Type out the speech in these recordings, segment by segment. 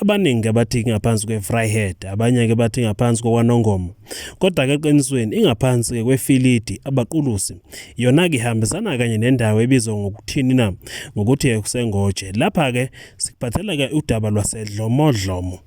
Abaningi ke bathi ingaphansi kweVryheid, abanye-ke bathi ingaphansi kokwaNongoma. Kodwa-ke eqinisweni ingaphansi-ke kweFilidi, abaqulusi. Yona-ke ihambisana kanye nendawo ebizwa ngokuthini na? Ngokuthi kuseNgoje. Lapha-ke sikuphathela-ke udaba lwaseDlomodlomo.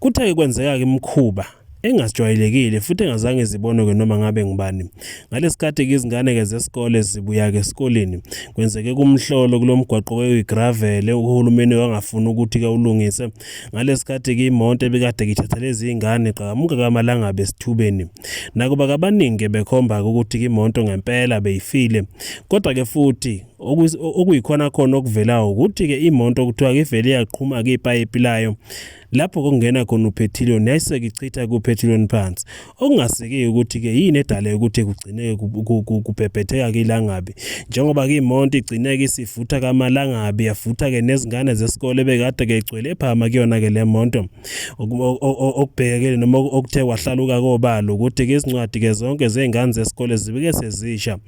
Kuthe-ke kwenzeka-ke imikhuba engasijwayelekile futhi engazange zibonwe-ke noma ngabe ngubani ngalesikhathi-ke izingane-ke zesikole zibuya-ke esikoleni kwenzeke kumhlolo kulo mgwaqo wewigravele uhulumeni wangafuni ukuthi-ke ulungise ngalesikhathi-ke imonto ebikade ngithatha lezi iy'ngane iqhakamuka kamalangabe esithubeni nakuba kabaningi-ke bekhomba-ke ukuthi-ke imonto ngempela beyifile kodwa-ke futhi okuyikhona khona okuvelayo ukuthi-ke imonto kuthiwa-ke ivele yaqhuma-ke ipayipi layo lapho kungena khona uphethiliyoni yayiseke ichitha kuphethiliyoni phansi okungasekeki ukuthi-ke yini edale ukuthi kugcineke kubhebhetheka-ke ilangabi njengoba ke imonto igcineke isivutha kamalangabi yavutha-ke nezingane zesikole ebekade-ke igcwele ephama kuyona-ke le monto okubhekekele noma okuthe kwahlaluka kobalo ukuthi-ke izincwadi-ke zonke zey'ngane zesikole zibike sezisha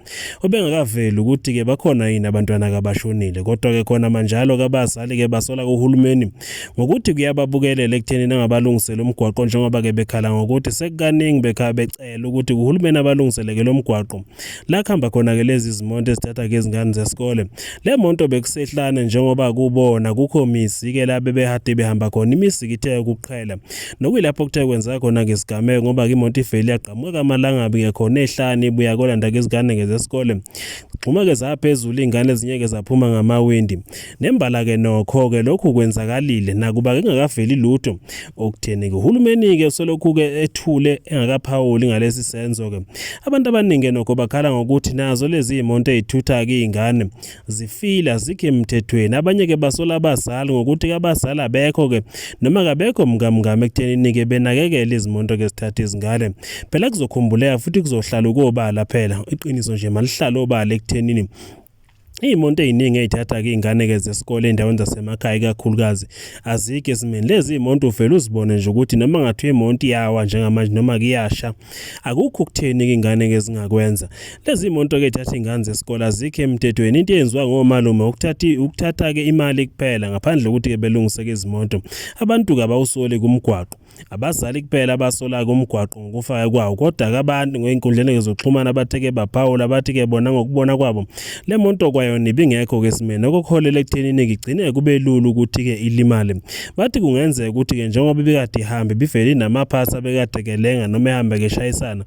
Obengakaveli ukuthi ke bakhona yini abantwana kabashonile kodwa ke khona manjalo kabazali ke basola kuhulumeni ngokuthi kuyababukelela ekutheni nangabalungisele umgwaqo njengoba ke bekhala ngokuthi sekukaningi bekha becela ukuthi kuhulumeni abalungiseleke lo mgwaqo la kuhamba khona ke lezi zimonto ezithatha ke izingane zesikole le monto bekusehlane njengoba kubona kukho mizi ke la bebehade behamba khona imizi kithe ukuqhela Nokuyilapho kuthe kwenzeka khona ngesigameko ngoba imoto ivele yagqamuka amalangabi ngekhona ehlane ibuya kolanda ngezingane ngezesikole. Xhuma-ke zaphezulu iy'ngane ezinye-ke zaphuma ngamawindi. Nembala-ke nokho-ke lokhu kwenzakalile nakuba kengakaveli lutho okutheni-ke. Uhulumeni-ke usolokhu-ke ethule engakaphawuli ngalesi senzo-ke. Abantu abaningi nokho bakhala ngokuthi nazo lezi iy'monto ey'thutha-ke iy'ngane zifile azikho emthethweni abanye ke basola abazali ngokuthi abazali abekho ke noma kabekho mkamngame ekuthenini ke benakekele izimonto ke zithatha izingane phela kuzokhumbuleka futhi kuzohlala ukobala phela iqiniso nje malihlala obala ekuthenini Iy'monto ey'ningi ey'thatha-ke iy'ngane-ke zesikole ey'ndaweni zasemakhaya ikakhulukazi azikho esimeni. Lezi iy'monto uvele uzibone nje ukuthi noma kungathiwa imonto iyawa njengamanje noma-ke iyasha akukho ukutheni ingane ngezingakwenza lezi monto ke thatha ingane zesikole azikho emthethweni into eyenziwa ngomalume ukuthatha ukuthatha ke imali kuphela ngaphandle ukuthi ke belungise ke izimonto abantu kabawusoli kumgwaqo abazali kuphela abasola kumgwaqo ngokufaka kwawo kodwa ke abantu ngeenkundleni zokuxhumana abatheke baphawula bathi ke bona ngokubona kwabo Le moto kwayona ibingekho ke simene okuholela ekuthenini ngigcine kube lula ukuthi ke ilimale. Bathi kungenzeka ukuthi ke njengoba ibikade ihambe bivele inamaphasi abekade kelenga noma ehamba keshayisana.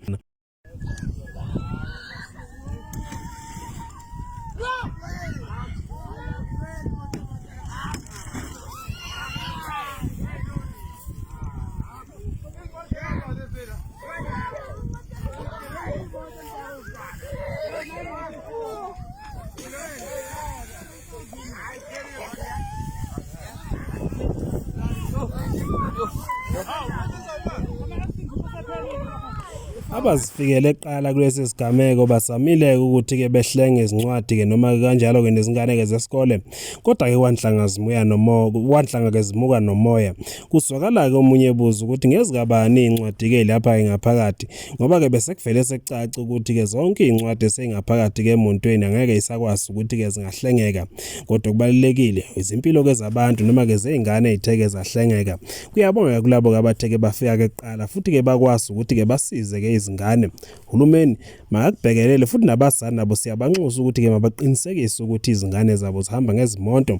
Abazifikele kuqala kulesi sigameko bazamile ukuthi-ke behlenge izincwadi-ke noma kanjalo-ke nezingane-ke zesikole kodwa-ke kwanhlanga zimuya nomoya kwanhlanga-ke zimuka nomoya kuzwakala-ke omunye ebuza ukuthi ngezikabani iy'ncwadi-ke lapha-ke ngaphakathi ngoba ke bese kuvele sekucaca ukuthi ke zonke izincwadi esingaphakathi ke montweni angeke isakwazi ukuthi ke zingahlengeka kodwa kubalekile izimpilo ke zabantu noma ke zeingane ezitheke zahlengeka kuyabonga kulabo ke abatheke bafika ke kuqala futhi ke bakwazi ukuthi ke basize ke izingane uhulumeni makakubhekelele futhi nabazali nabo siyabanxusa ukuthi ke mabaqinisekise ukuthi izingane zabo zihamba ngezimonto